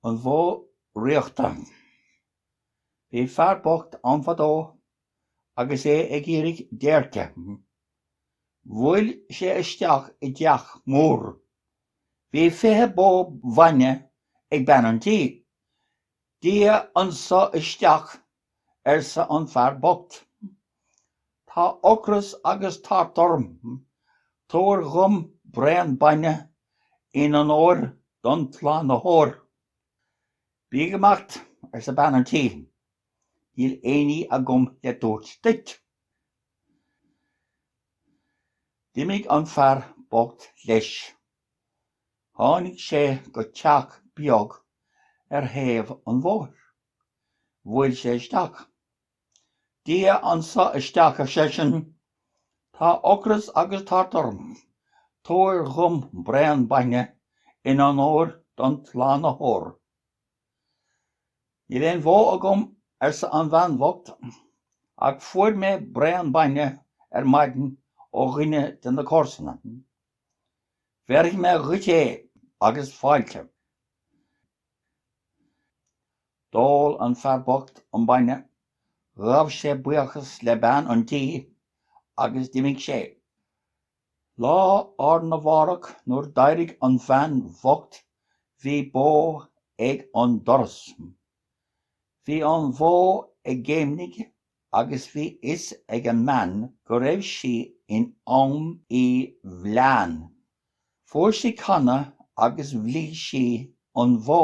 An Bhó Dhraíochta. Bhí fear bocht ann fadó agus é ag iarraidh déirce. Bhuail sé isteach i dteach mór. Bhí fiche bó bhainne ag bean an tí. Dia anso isteach arsa an fear bocht. Tá ocras agus tart orm. Tabhair dhom braon bainne in onóir don tSlánaitheoir. Bí ag imeacht, arsa bean an tí. Níl éinní agam le tabhairt duit. D'imigh an fear bocht leis. Tháinig sé go teach beag ar thaobh an bhóthair. Bhuail sé isteach. Dia anso isteach, ar seisean. Tá ocras agus tart orm. Tabhair dhom braon bainne in onóir don tSlánaitheoir. Níl aon bhó agam, arsa an bhean bhocht, ach fuair mé braon bainne ar maidin ó dhuine de na comharsana. Bhéarfaidh mé dhuit é agus fáilte. D'ól an fear bocht an bainne, ghabh sé buíochas le bean an tí agus d'imigh sé. Lá arna mhárach nuair d'éirigh an bhean bhocht bhí bó ag an doras. Bhí an bhó ag géimnigh agus bhí fhios ag an mbean go raibh sí in am í bhleán. Fuair sí canna agus bhligh sí an bhó.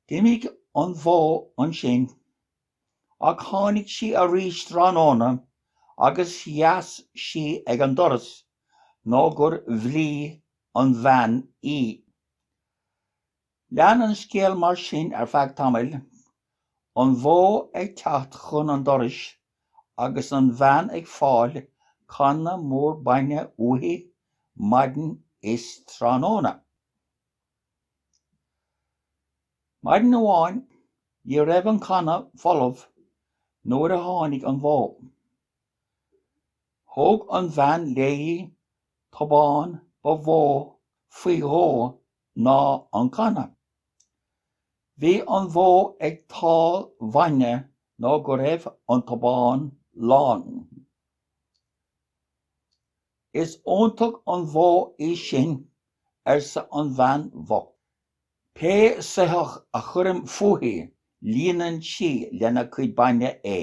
D'imigh an bhó ansin, ach tháinig sí arís tráthnóna agus sheas sí ag an doras nó gur bhligh an bhean í. Lean an scéal mar sin ar feadh tamaill, an bhó ag teacht chun an dorais agus an bhean ag fáil canna mór bainne uaithi maidin is tráthnóna. Maidin amháin, ní raibh an canna folamh nuair a tháinig an bhó. Thóg an bhean léi tobán ba mhó faoi dhó ná an canna. Bhí an bhó ag tál bainne nó go raibh an tobán lán. Is iontach an bhó í sin, arsa an bhean bhocht. Pé soitheach a chuirim fúithi líonann sí lena cuid bainne é.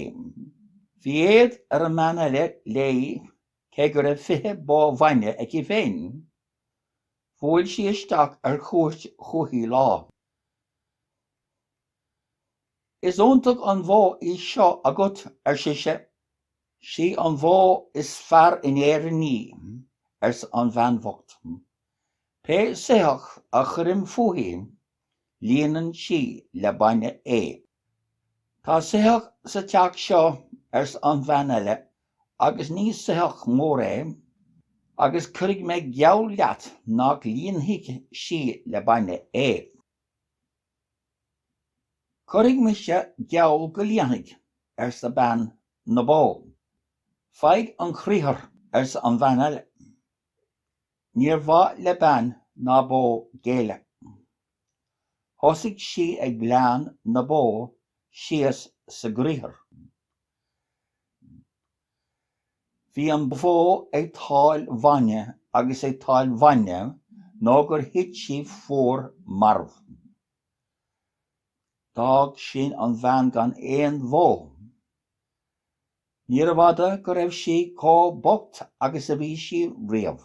Bhí éad ar an mbean eile léi cé go raibh fiche bó bhainne aici féin. Bhuail sí isteach ar chuairt chúichi lá. Is iontach an bhó í seo agat, ar sise. Sí an bhó is fearr in Éirinn í, arsa an bhean bhocht. Pé soitheach a chuirim fúithi, Líonann sí le bainne é. Tá soitheach sa teach seo, arsa an bhean eile, agus ní soitheach mór é, agus cuirfidh mé geall leat nach líonfaidh sí le bainne é. Cuirfidh mise geall go líonfaidh, arsa bean na bó. Faigh an criathar, arsa an bhean eile. Níor mhaith le bean na bó géilleadh. Thosaigh sí ag bleán na bó síos sa gcriathar. Bhí an bhó ag tál bainne agus ag tál bainne nó gur thit sí fuar marbh. D'fhág sin an bhean gan aon bhó. Níorbh fhada go raibh sí chomh bocht agus a bhí sí riamh.